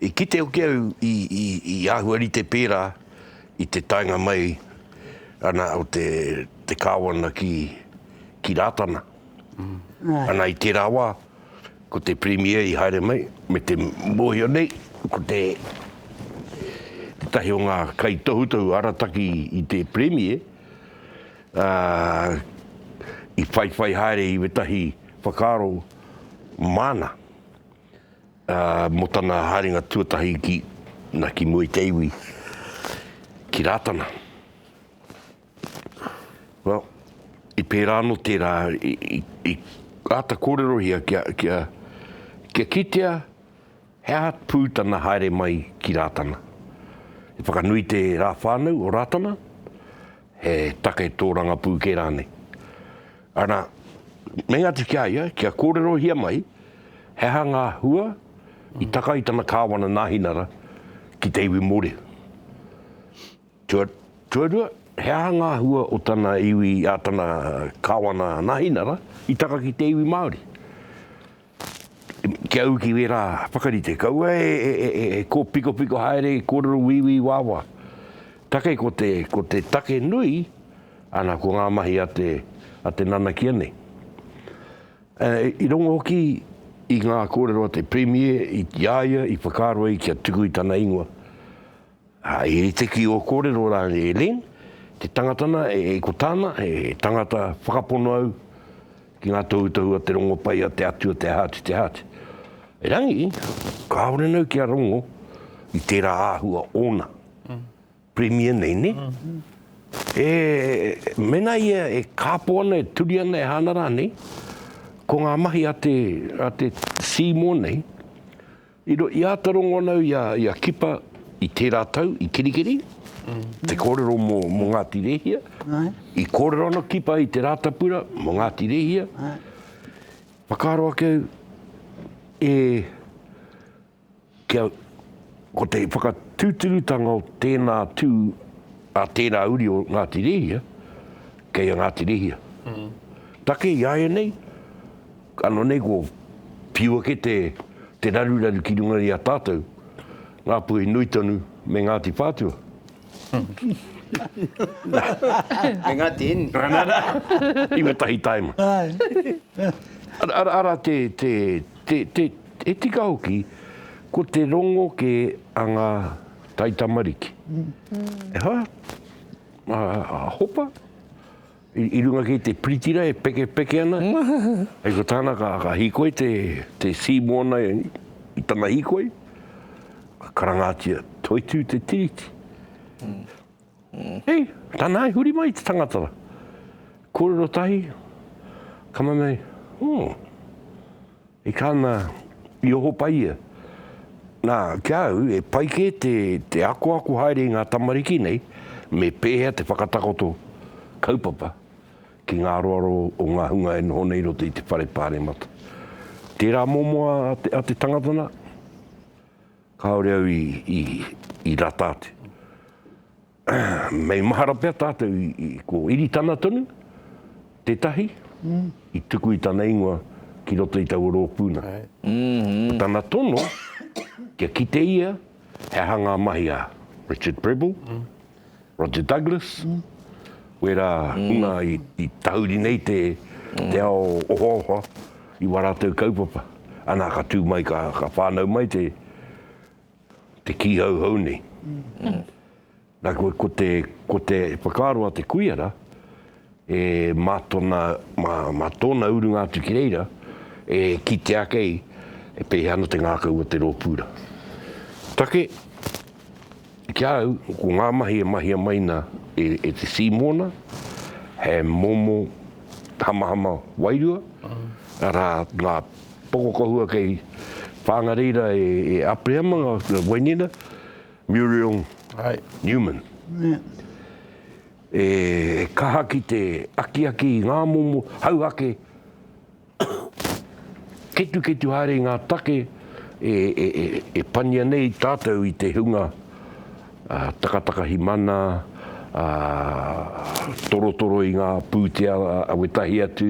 I kite hoki au i āhua rite pērā i te taenga mai ana o te Kāwana ki Rātana. Ana i tērā wā, ko te Premier i haere mai me te mōhio nei, ko te tētahi o ngā kaitohutohu arataki i te Premier, i whaiwhai haere i wētahi whakaaro māna. Mō tana haerenga tuatahi ki, na, ki mua i te iwi, ki Rātana. Well, i pērā anō tērā, i āta kōrerohia kia, kia, kia kitea he aha pū tana haere mai ki Rātana. I whakanui te rā whānau o Rātana, he take tōrangapū kē rānei. Arā, mei atu ki a ia kia kōrerohia mai he aha ngā hua i taka i tana kāwana nāhinara ki te iwi Mōrehu. Tuarua, he aha ngā hua o tana iwi, ā, tana kāwana nāhinara i taka ki te iwi Māori. Kia ū ki wērā whakarite, kaua e kōpikopiko haere, e kōrero wīwī wāwā. Take ko te, ko te take nui, ana, ko ngā mahi a te, a te nanakia nei. I rongo hoki i ngā kōrero a te Premier, i a ia i whakaaro ai kia tuku i tana ingoa, He tiki o kōrero rā e Lynne, te tangata nā, e ko tāna, he tangata whakapono au ki ngā tohutohu a te rongo pai a te Atua te Hāti te Hāti. Erangi, kāore nau kia rongo i tērā āhua ōna, Premier nei, nē? E, mēnā ia e kāpō ana, e turi ana, e hāna rānei, ko ngā mahi a te, a te Seymour nei, I āta rongonau i a Kipa i tērā tau i Kerikeri, te kōrero mō Ngāti Rēhia. I kōrero ana Kipa i Te Rātapura mō Ngāti Rēhia. Whakaaro ake au, e, kia, ko te whakatūturutanga o tēnā tū a tērā uri o Ngāti Rēhia, kei a Ngāti Rēhia. Take i āianei, Ano nei ko whiu ake te te raruraru ki runga i a tatou, Ngapuhi nui tonu me Ngati Whatua. Me Ngati Heni. Ana ra, i we tahi taima. Ara te te te te e tika hoki ko te rongo ke a nga taitamariki. E ha? A hopa? I runga kei te piritira e pekepeke ana, hei ko tāna ka ka hikoi te te sea moana i tana hikoi, ka karangatia, Toitū te tiriti. Hei, tana i huri mai te tangata ra. Kōrero tahi, ka mea nei, Hoo. E ka na, i oho pai ia. Na, ki a au, e pai ke te, te akoako haere i nga tamariki nei, me pehea te whakatakoto kaupapa ki nga aroaro o nga hunga e noho nei i roto i te whare paremata. Tera momo a, a te tangata na, kaore au i, i, i rata atu. Mei mahara pea tātou i ko Iritana tonu, tētahi, i tuku i tana ingoa ki roto i taua rōpū nā. Ko tana tono, kia kite ia he aha ngā mahi a Richard Prebble, Roger Douglas, wērā hunga i tahuri nei te ao ohaoha i wā rātou kaupapa. Anā, ka tū mai, ka whānau mai te. Te kīhauhau nei. Na koe, ko te, ko te whakaaro a te kuiara, e mā tona, mā, mā tōna urunga atu ki reira, e kitea kei, e pēhea ana te ngākau o te rōpūra. Take, ki a au, ko ngā mahi e mahia mai na e, e te Sīmona, he momo hamahama wairua, arā, ngā. Pokokohua kei Whangareira e Aperihama nga wainina, Muriel Newman. E kaha ki te akiaki i nga momo hau ake, ketuketu haere i nga take e pania nei tatou i te hunga takatakahi mana, torotoro i ngā pūtea a wētahi atu,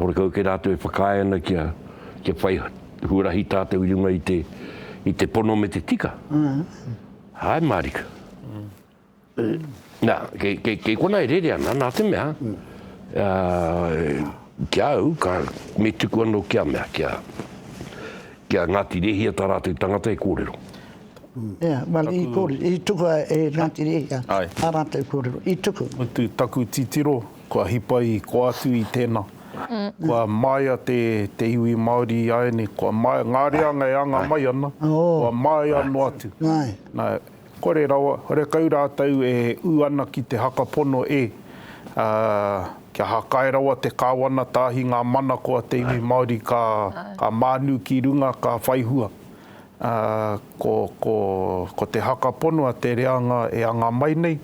horekau kē rātou e whakaae ana kia whai huarahi tātou i runga i te pono me te tika, āe mārika. Nā, kei konā e rere ana, nā te mea, ki a au, me tuku anō ki a mea, ki a, ki a Ngāti Rēhia tā rātou tangata e kōrero. Ia, well, i kōrero, i tuku a e Ngāti Rēhia tā rātou kōrero, i tuku. Mutu taku titiro, kua hipa i koa atu i tēnā. Kua māia te, te iwi Māori āiane, kua māia, ngā reanga e anga mai ana, kua māia noa atu. Nā, Kore rawa, kore kau rātou e ū ana ki te haka pono e, ā, kia hakae rawa te Kāwana Tāhi ngā manako a te iwi Māori ka, ka mānu ki runga, ka whai hua. Ā, ko, ko, ko te haka pono a te reanga e anga mai nei,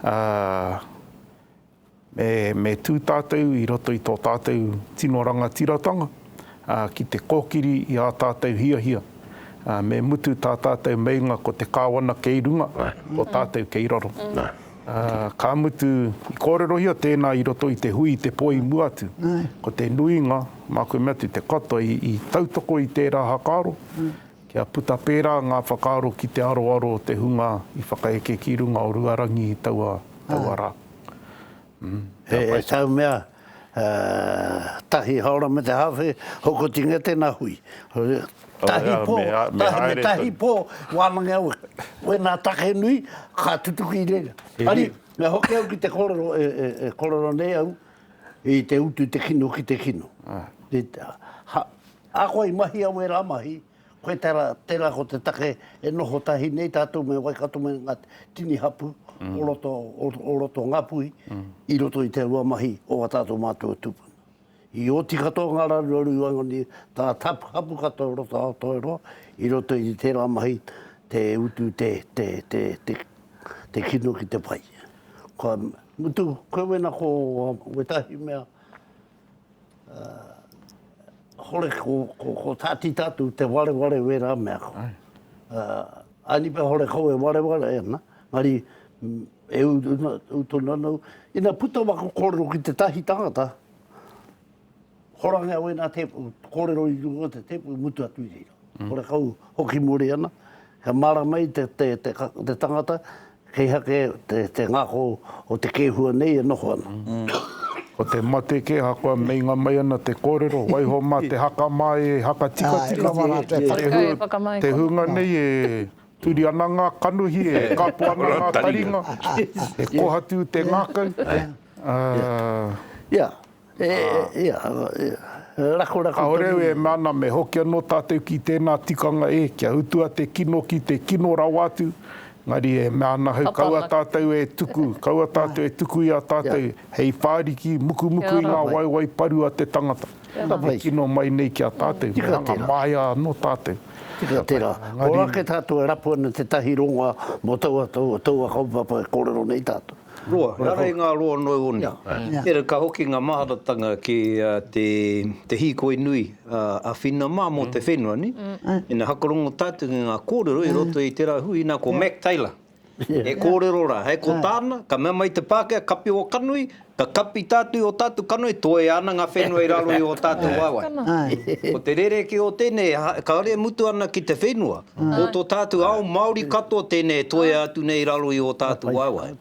ā, Me tū tātou i roto i tō tātou tino rangatiratanga ki te kōkiri i ā tātou hiahia, me mutu tā tātou meinga ko te Kāwana kei runga, ko tātou kei raro. Ka mutu, i kōrerohia tēnā i roto i te hui i te pō i mua atu, ko te nuinga, mā koe mea atu te katoa i tautoko i tērā hakaaro, kia puta pērā ngā whakaaro ki te aroaro o te hunga i whakaeke ki runga o Ruarangi i taua rā. He tau mea tahi haora me te hawhe hokotinga tena hui. Tahi po, me tahi po, wanange au wena take nui ka tutuki reira. Ari, me hoki au ki te korero e korero nei au i te utu te kino ki te kino. Ako i mahi au e ra mahi. Koe tera, tera ko te take e noho tahi nei tatou me Waikato me nga tini hapu o roto, o roto o Ngapuhi i roto i te rua mahi o nga tatou matua tupuna. I oti katoa nga raruraru i waenganui ta tapu hapu katoa o roto Aotearoa i roto i tera mahi te utu te, te, te, te, te kino ki te pai. Kua mutu koe wena ko wetahi mea. hore ko Tati Tatu te wareware wera mea ko. Anipe hore ko e wareware e na, mari e uto na no, ina puto ma ko korero ki te tahi tangata, hora nga wena te korero i runga te te mutu atu i reira. Kore kau hoki muri ana, kia mārama ai te tangata kei hake te ngako o te kēhua nei e noho ana. Ko te mate kē ahakoa meinga mai ana te kōrero, waiho mā te haka mā e haka tikatika te hunga nei e turi ana ngā kanohi, e kapo ana ngā taringa, e kohatu te ngākau. E, ia, e, rakorako. Kāore au e mea ana me hoki anō tātou ki tēnā tikanga e, kia utua te kino ki te kino rawa atu, engari e mea ana au kaua tātou e tuku, kaua tātou e tuku i a tātou hei whāriki mukumuku i ngā waewae paru a te tangata e kino mai nei ki a tātou, me hanga māia anō tātou. Tika tērā. Ora kē tātou e rapu ana tētahi rongoa mō taua, taua kaupapa e kōrero nei tātou. Roa, ehara i ngā roa noa iho nei. Tērā ka hoki ngā maharatanga ki te hīkoi nui a Whina mā mō te whenua, ina hakarongo tātou ki ngā kōrero i roto i tērā hui, ina ko Mac Taylor e kōrero rā, hei ko tāna, ka mea mai te Pākehā, kapi ō kanohi, ka kapi tātou i ō tātou kanohi, toe ana ngā whenua i raro i ō tātou waewae. Ko te rerekē o tēnei, kāore e mutu ana ki te whenua, Ko tō tātou ao Māori katoa tēnei e toea atu nei raro i ō tātou waewae.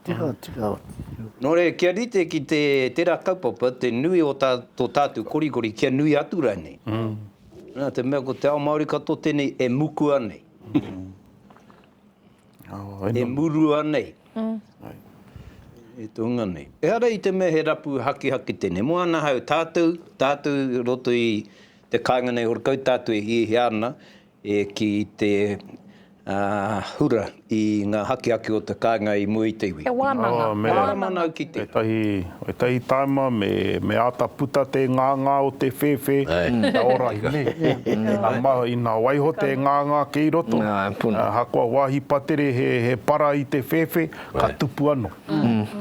Nō reira, kia rite ki te tērā kaupapa, te nui o tō tātou korikori, kia nui atu rānei. Nā te mea ko te ao Māori katoa tēnei e mukua nei, e murua nei, e tōnga nei. Ehara i te mea he rapu hakihaki tēnei. Mō ana hau, tātou, tātou i roto i te kāinga nei horekau, tātou e hiahia ana, E ki te hura i nga hakihaki o te kainga i mua i te iwi. He wananga, he wananga ki te. Etahi taima me ata puta te nganga o te whewhe kia ora hine. Ina maha, ina waiho te nganga kei roto, ahakoa wahi patere he para i te whewhe, ka tupu ano.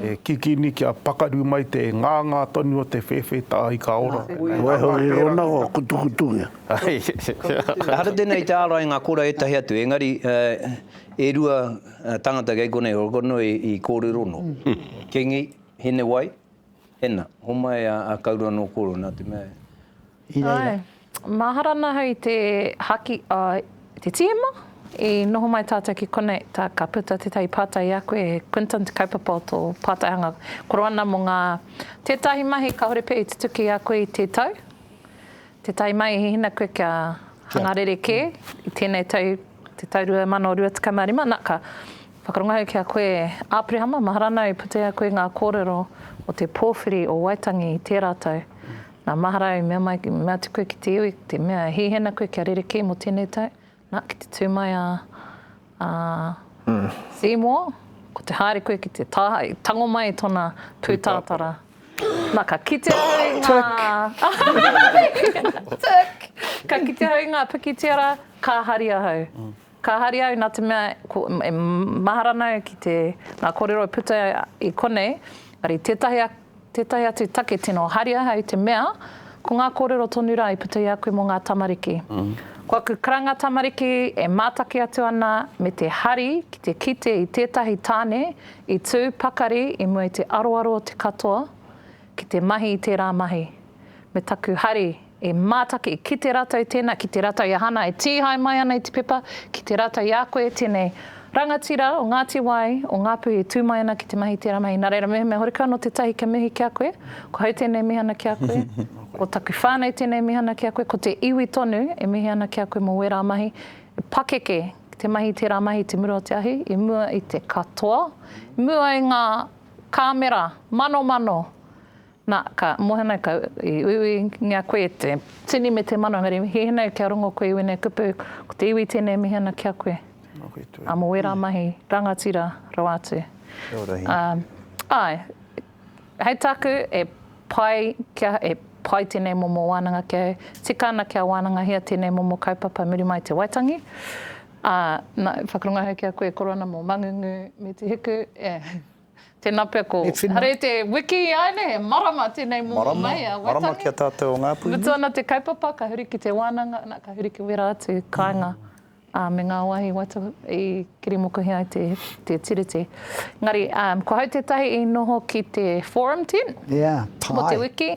E kikini kia pakaru mai te nganga tonu o te whewhe, tahi ka ora. Waiho i rongo kutukutungia. Ehara tēnei te ārai ngā kora ētahi atu, engari e rua tangata kei konei o Rongkonui i kōrero nō. Kingi, Hinewai, Hena. Homai a Kaurua nō kōrero nā te mea. I reira. Āe. Mahara ana hau i te haki a te tīma i noho mai tātou ki konei tā ka puta tētahi pātai i a koe e Quinton te kaupapa o tō pātai hanga koroana mō ngā tētahi mahi kāore pea i tutuki i a koe i te tau Te tai mai, he hina koe kia hanga rerekē i tēnei tau, te tau 2025, na, ka whakarongo au ki a koe, Āperehama, mahara ana i puta i a koe ngā kōrero o te pōwhiri o Waitangi i tērā tau. Na, mahara au i mea mai, mea atu koe ki te iwi, te mea, he hina koe kia rerekē mō tēnei tau, Na, ki te tū mai a, a Seymour, ko te haere koe ki te taha, i tango mai tona pūtātara. Na, ka kite au i ngā... Tick! Ka kite au i ngā pikitiara, ka hari ahau. Ka hari au nā te mea, ko, e mahara ana au ki te, ngā kōrero e puta i konei, ari tētahi a, Tētahi atu take tino haria hei te mea, ko ngā kōrero tonu rā i puta i a koe mō ngā tamariki. Ko aku karanga tamariki e mātaki atu ana me te hari ki te kite i tētahi tāne i tū pakari i mua i te aroaro o te katoa ki te mahi i tērā mahi. me taku hari e mātaki ki te ratou tēnā, ki te ratou i a Hana e tīhae mai ana i te pepa, ki te ratou i a koe tēnei rangatira o Ngāti Wai, o Ngāpuhi e tū mai ana ki te mahi tērā mahi. Nā reira, mehemea horekau anō tētahi kia mihi ki a koe, ko hau tēnei mihana ki a koe, ko taku whānau tēnei mihana ki a koe, ko te iwi tonu e mihi ana ki a koe mō wērā mahi, e pakeke ki te mahi tērā mahi i te mura o te ahi, i mua i te katoa, i mua i ngā kāmera manomano. Na, ka mohe mai kau, i uiuingia koe e te. Tini me te mano, engari hēnei kia rongo koe i wēnei kupu, ko te iwi tēnei e mihi ana ki a koe. Nōku tū. Ā, mō wērā mahi, rangatira rawa atu. Kia ora, Hī. Ā, āe, hei tāku, e pai kia, e pai tēnei momo wānanga ki au, tika ana kia wānangahia tēnei momo kaupapa muri mai i te Waitangi, ā, na, whakarongo ahau ki a koe e koro ana mō Mangungu me Te Hiku, e. Tena pea ko. Hare te wiki ai ne, he marama tenei momo mai a Waitangi. Marama, marama ki a tatou o Ngapuhi. Mutu ana te kaupapa ka huri ki te wananga na ka huri ki wera atu kainga a me nga wahi waitohu i kirimokuhi ai te te tiriti. Engari um ko hau tetahi i noho ki te forum tent. Yeah, pai. Mo te wiki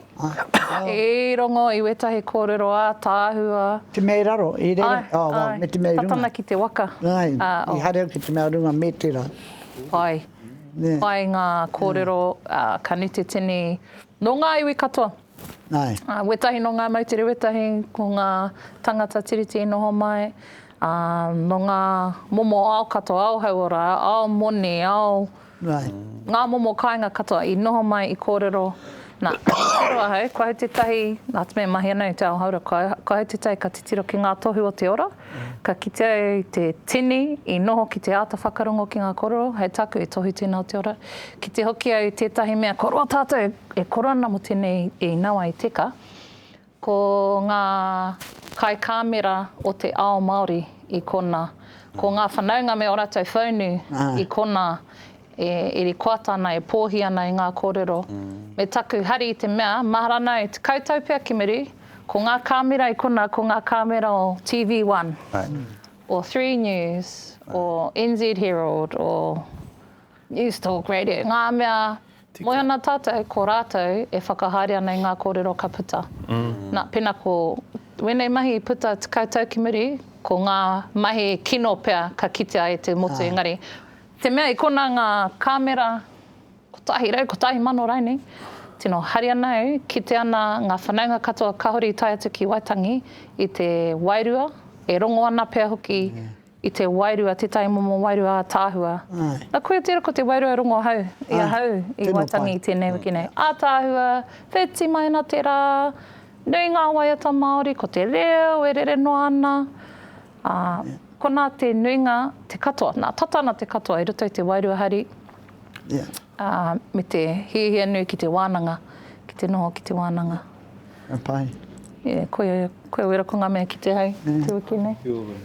i rongo i wetahi korero a tahua. Te mea i raro, i rere, oh well me te mea i runga. Ai, ai, tatana ki te waka. Ai, i haere au ki te mea runga me tera. Pai. Pai ngā kōrero, ka nute tini nō ngā iwi katoa. Wētahi nō ngā moutere, wētahi ko ngā tangata Tiriti i noho mai, nō ngā momo ao katoa, ao hauora, ao moni, ao, ngā momo kāinga katoa i noho mai, i kōrero. Nā, ka kōrero ahau, kua hau tētahi, nā te mea mahi ana i te ao hauora, kua hau tētahi ka titiro ki ngā tohu o te ora, Ka kitea au i te tini i noho ki te āta whakarongo ki ngā kororo, hei tāku e tohu tēnā o te ora. Kite hoki au i tētahi mea ko roa tātou e koro ana mo tēnei i nawa i teka, ko ngā kai kāmera o te ao Māori i kona, ko ngā whanaunga me o rātou whaunu i kona, E rikoata ana, e pōhi ana i ngā kōrero me taku hari i te mea, mahara ana e te koutou pea ki muri, ko ngā kāmera i konā, ko ngā kāmera o TV One, o Three News, o NZ Herald, o Newstalk Radio, ngā mea, moe ana tātou, ko rātou e whakahaere ana i ngā kōrero ka puta. Nā, pēnā ko wēnei mahi i puta tekau tau ki muri, ko ngā mahi kino pea ka kitea e te motu engari, Te mea i kona ngā kāmera 111,000 rainei, tino hari ana au, kite ana ngā whanaunga katoa kāore i tae atu ki Waitangi i te wairua, e rongo ana pea hoki i te wairua, tētahi momo wairua ātaahua. Nā koia tērā ko te wairua e rongo ahau, i ahau i Waitangi i tēnei wiki nei. Ātaahua, wheti mai ana te rā, nui ngā waiata Māori, ko te reo e rere noa ana. Ā, konā te nuinga, te katoa, nā, tata ana te katoa i roto i te wairua hari, ā, me te hiahia nui ki te wānanga, ki te noho ki te wānanga. Ka pai. Yeah, koia, koia wera ko ngā mea kite hai te wiki nei. Kia ora.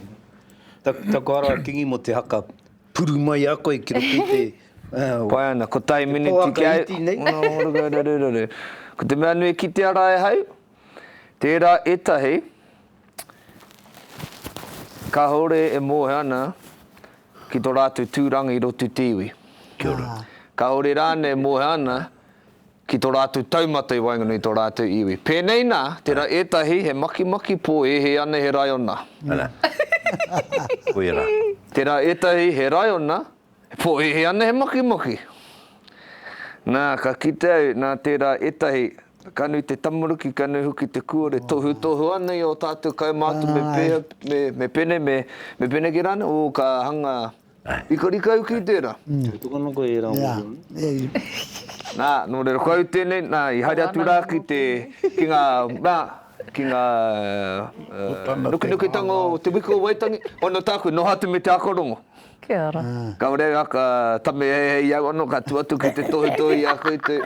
Ta, taku ara a Kingi mo te haka puru mai a koe ki roto i te, uh, Pai ana, ko tai miniti kia... Te poaka iti nei. Ora, ora, ora, ora, ora, ora. Ko te mea nui ki te ara e hau, tērā etahi, Kahore e mohe ana ki to ratou turanga i roto i te iwi. Kia ora. Kahore rane e mohe ana ki to ratou taumata i waenganui i to ratou iwi. Penei na, tera etahi he makimaki po e he ana he raiona. Ana. Koia ra. Tera etahi he raiona, E pōhēhē ana he makimaki. Nā, ka kite au, nā tērā ētahi, ka nui te tamaruki, ka nui hoki te kuore, tohutohu ana i ō tātou kaumātua me pēhea, me pēnei, me pēneki rānei, ō, ka hanga rikarika au ki tērā. E toka ana koe i ērā mōhio? Nā, nō reira, koiau tēnei, nā, i haere atu rā ki te, ki ngā, nā, ki ngā nukinukitanga o te wiki o Waitangi, whai no tāku, noho atu me te ako rongo. Kia ora. Kaore nga ka tame hehe i au ano ka tu atu ki te tohutohu i a koe te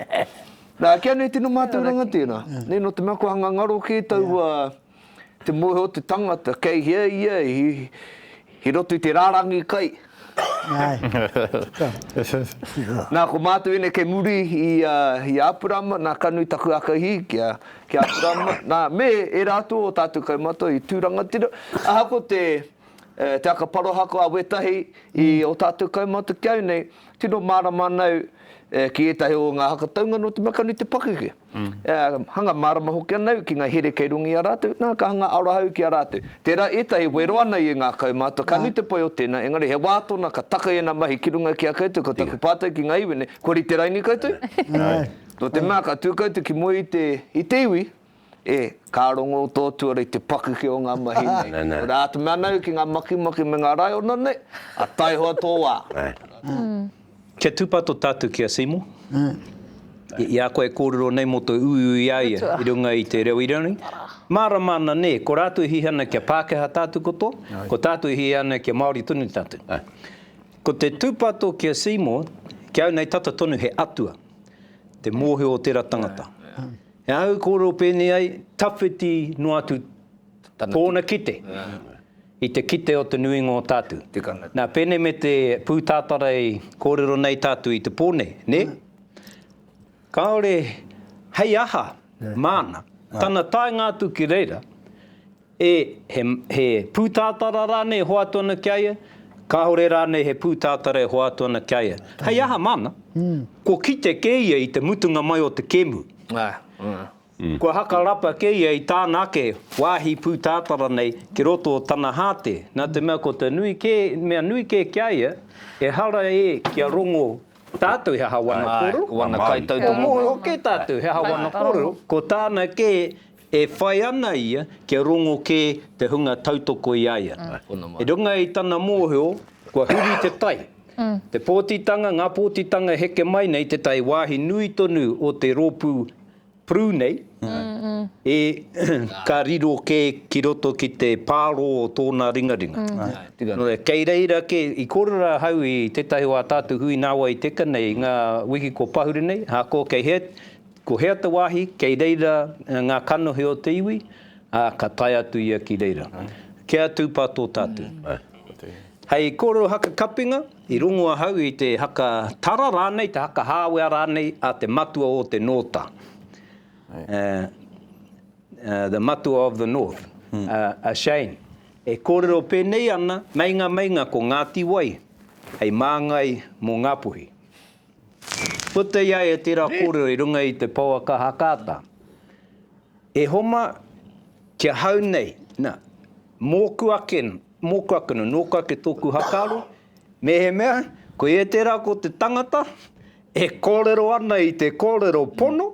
Na, kia nei tino matou rangatira. Nei no te mea kua ngangaro ke taua te mohe o te tangata kei hea ia i roto i te rarangi kai. Na, ko matou enei kei muri i a Apurama, na, ka nui taku akahi ki a Apurama, na, me era atu o tatou kaumata i tu rangatira, ahako te E Te Aka Parahako a Wetahi, i o tātou kaumātua ki au nei, tino mārama ana au ki ētahi o ngā haka taunga nō te mea ka nui te pakeke. Hanga mārama hoki ana au ki ngā here kei runga i a rātou, nā, ka hanga aroha au ki a rātou. Tērā ētahi wero ana i ngā kaumātua, ka nui te pai o tēnā, engari he wā tōna ka taka ēnā mahi ki runga ki a koutou, ko taku pātai ki ngā iwi nei, kua rite raini koutou? Nō te mea ka tū koutou ki mua i te iwi, E, ka rongo tō tuara i te pakeke o ngā mahi nei. Ko rā te mea nau ki ngā makimaki me ngā raiona nei, a taihoa tō wā. Kia tūpato tātou ki a Seymour. I a koe e kōrero nei mō te uiui i a ia i runga i te reo Irirangi, mārama ana nē, ko rātou e hī ana kia Pākehā tātou katoa, ko tātou e hī ana kia Māori tonu tātou. Ko te tūpato ki a Seymour, ki au nei tata tonu he atua, te mōhio o tērā tangata. He aha i kōrero pēnei ai? Tawhiti noa atu tōna kite i te kite o te nuinga o tātou. Nā, pēnei me te pūtātara i kōrero nei tātou i te pō nei, nē? Kāore hei aha māna, tana taenga atu ki reira, E, he, he pūtātara rānei e hoatu ana ki a ia? Kāore rānei he pūtātara e hoatu ana ki a ia? Hei aha māna? Kua kite kē ia i te mutunga mai o te kēmu. Kua hakarapa kē ia i tāna ake wāhi pūtātara nei ki roto o tana hāte. Nā te mea ko te nui kē, mea nui kē ki a ia, ehara e kia rongo tātou he aha wana kōrero? He moe hoki tātou he aha wana kōrero, ko tāna kē E whai ana ia kia rongo kē te hunga tautoko i a ia. I runga i tana mōhio, kua huri te tai, te pōtitanga, ngā pōtitanga e heke mai nei te tai wāhi nui tonu o te rōpū Prue nei, ē, ka riro kē ki roto ki te pārō o tōna ringaringa. Nō reira, kei reira kē, i kōrero ahau i tētahi o ā tātou hui nāwai teka nei i ngā wiki kua pahure nei, ahakoa kei hea, Ko hea te wāhi kei reira ngā kanohi o te iwi, ā, ka tae atu ia ki reira. Kia tūpā tō tātou. Hei kōrero haka kapinga, i rongo ahau i te haka tara rānei, te haka hāwea rānei a te matua o te nōta, the matua of the north, a shame. E kōrero pēnei ana, meinga meinga ko Ngāti Wai hei māngai mō Ngāpuhi. Puta i a ia tērā kōrero i runga i te pouaka Hakata, E Homa, ki ahau nei, nā, mōku ake, mōku ake anō, nōku ake tōku hakaaro, mehemea koia tērā ko te tangata e kōrero ana i te kōrero pono,